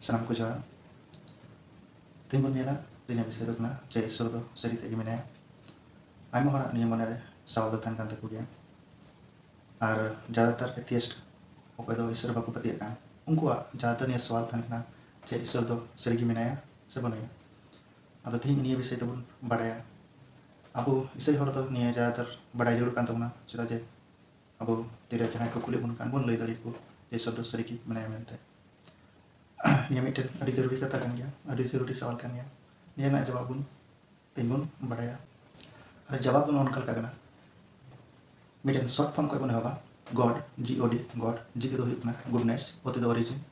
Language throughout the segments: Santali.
ᱥᱟᱱᱟᱢ ᱠᱚ ᱡᱚᱦᱟᱨ ᱛᱮᱦᱮᱧ ᱵᱚᱱ ᱧᱮᱞᱟ ᱛᱮᱦᱮᱧᱟᱜ ᱵᱤᱥᱚᱭ ᱫᱚ ᱠᱟᱱᱟ ᱡᱮ ᱤᱥᱚᱨ ᱫᱚ ᱥᱟᱹᱨᱤ ᱛᱮᱜᱮ ᱢᱮᱱᱟᱭᱟ ᱟᱭᱢᱟ ᱦᱚᱲᱟᱜ ᱱᱤᱭᱟᱹ ᱢᱚᱱᱮᱨᱮ ᱥᱟᱶ ᱫᱚ ᱛᱟᱦᱮᱱ ᱠᱟᱱ ᱛᱟᱠᱚ ᱜᱮᱭᱟ ᱟᱨ ᱡᱟᱫᱟᱛᱟᱨ ᱮᱛᱷᱤᱭᱮᱥᱴ ᱚᱠᱚᱭ ᱫᱚ ᱤᱥᱚᱨ ᱵᱟᱠᱚ ᱯᱟᱹᱛᱭᱟᱹᱜ ᱠᱟᱱ ᱩᱱᱠᱩᱣᱟᱜ ᱡᱟᱫᱟᱛᱟᱨ ᱱᱤᱭᱟᱹ ᱥᱚᱣᱟᱞ ᱛᱟᱦᱮᱱ ᱠᱟᱱᱟ ᱡᱮ ᱤᱥᱚᱨ ᱫᱚ ᱥᱟᱹᱨᱤ ᱜᱮ ᱢᱮᱱᱟᱭᱟ ᱥᱮ ᱵᱟᱹᱱᱩᱭᱟ ᱟᱫᱚ ᱛᱮᱦᱮᱧ ᱱᱤᱭᱟᱹ ᱵᱤᱥᱚᱭ ᱛᱮᱵᱚᱱ ᱵᱟᱰᱟᱭᱟ ᱟᱵᱚ ᱤᱥᱟᱹᱭ ᱦᱚᱲ ᱫᱚ ᱱᱤᱭᱟᱹ ᱡᱟᱫᱟᱛᱟᱨ ᱵᱟᱰᱟᱭ ᱡᱟᱹᱨᱩᱲ ᱠᱟᱱ ᱛᱟᱵᱚᱱᱟ ᱪᱮᱫᱟᱜ ᱡᱮ ᱟᱵᱚ ᱛᱤᱨᱮ ᱡᱟᱦᱟᱸᱭ ᱠᱚ ᱠᱩᱞᱤ ᱵᱚᱱ ᱠᱟᱱ ᱵᱚᱱ ᱞᱟᱹᱭ ᱫᱟᱲᱮᱭᱟᱠᱚ ᱡᱮ ᱤᱥᱚᱨ ᱫᱚ ᱥᱟᱹᱨᱤ ᱜᱮ ᱢᱮᱱᱟᱭᱟ ᱢᱮᱱᱛᱮ ᱱᱤᱭᱟᱹ ᱢᱤᱫᱴᱮᱱ ᱟᱹᱰᱤ ᱡᱟᱹᱨᱩᱨᱤ ᱠᱟᱛᱷᱟ ᱠᱟᱱ ᱜᱮᱭᱟ ᱟᱹᱰᱤ ᱡᱟᱹᱨᱩᱨᱤ ᱥᱟᱣᱟᱞ ᱠᱟᱱ ᱜᱮᱭᱟ ᱱᱤᱭᱟᱹ ᱨᱮᱱᱟᱜ ᱡᱟᱵᱟᱵ ᱵᱚᱱ ᱛᱮᱦᱮᱧ ᱵᱚᱱ ᱵᱟᱰᱟᱭᱟ ᱟᱨ ᱡᱟᱵᱟᱵ ᱫᱚ ᱱᱚᱝᱠᱟ ᱞᱮᱠᱟ ᱠᱟᱱᱟ ᱢᱤᱫᱴᱮᱱ ᱥᱚᱨᱴ ᱯᱷᱚᱨᱢ ᱠᱷᱚᱱ ᱵᱚᱱ ᱮᱦᱚᱵᱟ ᱜᱚᱰ ᱡᱤ ᱳ ᱰᱤ ᱜᱚᱰ ᱡᱤ ᱛᱮᱫᱚ ᱦᱩᱭᱩᱜ ᱠᱟᱱᱟ ᱜᱩᱰᱱᱮᱥ ᱳ ᱛᱮᱫᱚ ᱚᱨᱤᱡᱤᱱ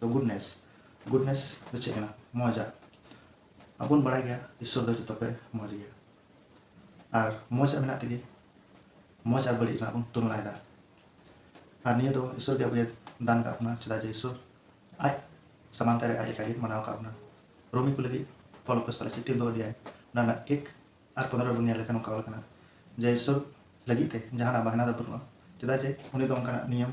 ᱫᱚ ᱜᱩᱰᱱᱮᱥ ᱜᱩᱰᱱᱮᱥ ᱫᱚ ᱪᱮᱫ ᱠᱟᱱᱟ ᱢᱚᱡᱟ ᱟᱵᱚᱱ ᱵᱟᱲᱟᱭ ᱜᱮᱭᱟ ᱤᱥᱥᱚᱨ ᱫᱚ ᱡᱚᱛᱚ ᱠᱷᱚᱡ ᱢᱚᱡᱽ ᱜᱮᱭᱟ ᱟᱨ ᱢᱚᱡᱟᱜ ᱢᱮᱱᱟᱜ ᱛᱮᱜᱮ ᱢᱚᱡᱽ ᱟᱨ ᱵᱟᱹᱲᱤᱡ ᱨᱮᱱᱟᱜ ᱵᱚᱱ ᱛᱩᱞᱚᱱᱟᱭᱮᱫᱟ ᱟᱨ ᱱᱤᱭᱟᱹ ᱫᱚ ᱤᱥᱥᱚᱨ ᱜᱮ ᱟᱵᱚᱭ ᱫᱟᱱ ᱠᱟᱜ ᱵᱚᱱᱟ ᱪᱮᱫᱟᱜ ᱡᱮ ᱤᱥᱥᱚᱨ ᱟᱡ ᱥᱟᱢᱟᱱᱛᱟ ᱨᱮ ᱟᱡ ᱞᱮᱠᱟᱜᱮ ᱢᱟᱱᱟᱣ ᱠᱟᱜ ᱵᱚᱱᱟ ᱨᱳᱢᱤ ᱠᱚ ᱞᱟᱹᱜᱤᱫ ᱯᱚᱞ ᱚᱯᱮᱥ ᱛᱟᱞᱟ ᱪᱤᱴᱷᱤ ᱫᱚᱦᱚ ᱤᱫᱤᱭᱟᱭ ᱚᱱᱟ ᱨᱮᱱᱟᱜ ᱮᱠ ᱟᱨ ᱯᱚᱱᱨᱚ ᱵᱚᱱ ᱧᱮᱞ ᱞᱮᱠᱷᱟᱱ ᱚᱱᱠᱟ ᱚᱞ ᱠᱟᱱᱟ ᱡᱮ ᱤᱥᱥᱚᱨ ᱞᱟᱹᱜᱤᱫ ᱛᱮ ᱡᱟᱦᱟᱱᱟᱜ ᱵᱟᱦᱱᱟ ᱫᱚ ᱵᱟᱹᱱᱩᱜᱼᱟ ᱪᱮᱫᱟᱜ ᱡᱮ ᱩᱱᱤ ᱫᱚ ᱚᱱᱠᱟᱱᱟᱜ ᱱᱤᱭᱚᱢ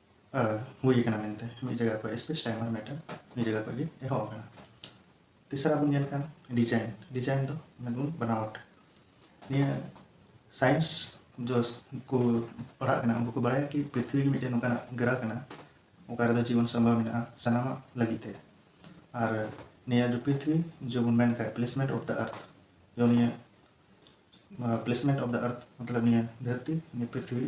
ᱦᱩᱭ ᱟᱠᱟᱱᱟ ᱢᱮᱱᱛᱮ ᱢᱤᱫ ᱡᱟᱭᱜᱟ ᱠᱷᱚᱱ ᱥᱯᱮᱥ ᱴᱟᱭᱢᱟᱨ ᱢᱤᱫᱴᱮᱱ ᱢᱤᱫ ᱡᱟᱭᱜᱟ ᱠᱷᱚᱱ ᱜᱮ ᱮᱦᱚᱵ ᱟᱠᱟᱱᱟ ᱛᱮᱥᱟᱨᱟ ᱵᱚᱱ ᱧᱮᱞ ᱠᱟᱱ ᱰᱤᱡᱟᱭᱤᱱ ᱰᱤᱡᱟᱭᱤᱱ ᱫᱚ ᱢᱮᱱᱵᱚᱱ ᱵᱟᱱᱟᱣᱴ ᱱᱤᱭᱟᱹ ᱥᱟᱭᱮᱱᱥ ᱡᱚ ᱠᱚ ᱯᱟᱲᱦᱟᱜ ᱠᱟᱱᱟ ᱩᱱᱠᱩ ᱠᱚ ᱵᱟᱲᱟᱭᱟ ᱠᱤ ᱯᱨᱤᱛᱷᱤᱵᱤ ᱢᱤᱫᱴᱮᱱ ᱱᱚᱝᱠᱟᱱᱟᱜ ᱜᱨᱟ ᱠᱟᱱᱟ ᱚᱠᱟ ᱨᱮᱫᱚ ᱡᱤᱵᱚᱱ ᱥᱟᱢᱵᱷᱟᱣ ᱢᱮᱱᱟᱜᱼᱟ ᱥᱟᱱᱟᱢᱟᱜ ᱞᱟᱹᱜᱤᱫ ᱛᱮ ᱟᱨ ᱱᱤᱭᱟᱹ ᱫᱚ ᱯᱨᱤᱛᱷᱤᱵᱤ ᱡᱮᱵᱚᱱ ᱢᱮᱱ ᱠᱷᱟᱡ ᱯᱞᱮᱥᱢᱮᱱᱴ ᱚᱯᱷ ᱫᱟ ᱟᱨᱛᱷ ᱡᱮ ᱱᱤᱭᱟᱹ ᱯᱞᱮᱥᱢᱮᱱᱴ ᱚᱯᱷ ᱫᱟ ᱟᱨᱛᱷ ᱢᱚᱛᱞᱚᱵ ᱱᱤᱭᱟᱹ ᱫᱷᱟᱹᱨᱛᱤ ᱱᱤᱭᱟᱹ ᱯᱨᱤᱛᱷᱤᱵᱤ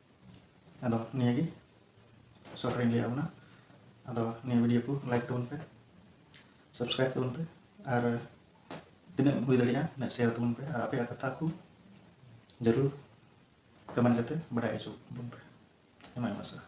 ᱟᱫᱚ ᱱᱤᱭᱟᱹᱜᱮ ᱥᱚᱨᱴ ᱨᱮᱧ ᱞᱟᱹᱭᱟᱫ ᱵᱚᱱᱟ ᱟᱫᱚ ᱱᱤᱭᱟᱹ ᱵᱷᱤᱰᱤᱭᱳ ᱠᱚ ᱞᱟᱭᱤᱠ ᱛᱟᱵᱚᱱ ᱯᱮ ᱥᱟᱵᱥᱠᱨᱟᱭᱤᱵ ᱛᱟᱵᱚᱱ ᱯᱮ ᱟᱨ ᱛᱤᱱᱟᱹᱜ ᱦᱩᱭ ᱫᱟᱲᱮᱭᱟᱜᱼᱟ ᱩᱱᱟᱹᱜ ᱥᱮᱭᱟᱨ ᱛᱟᱵᱚᱱ ᱯᱮ ᱟᱨ ᱟᱯᱮᱭᱟᱜ ᱠᱟᱛᱷᱟ ᱠᱚ ᱡᱟᱹᱨᱩᱲ ᱠᱚᱢᱮᱱᱴ ᱠᱟᱛᱮ ᱵᱟᱰᱟᱭ ᱦᱚᱪᱚ ᱵᱚᱱ ᱯᱮ ᱟᱭᱢᱟ ᱟᱭᱢᱟ ᱥᱟᱨᱦᱟᱣ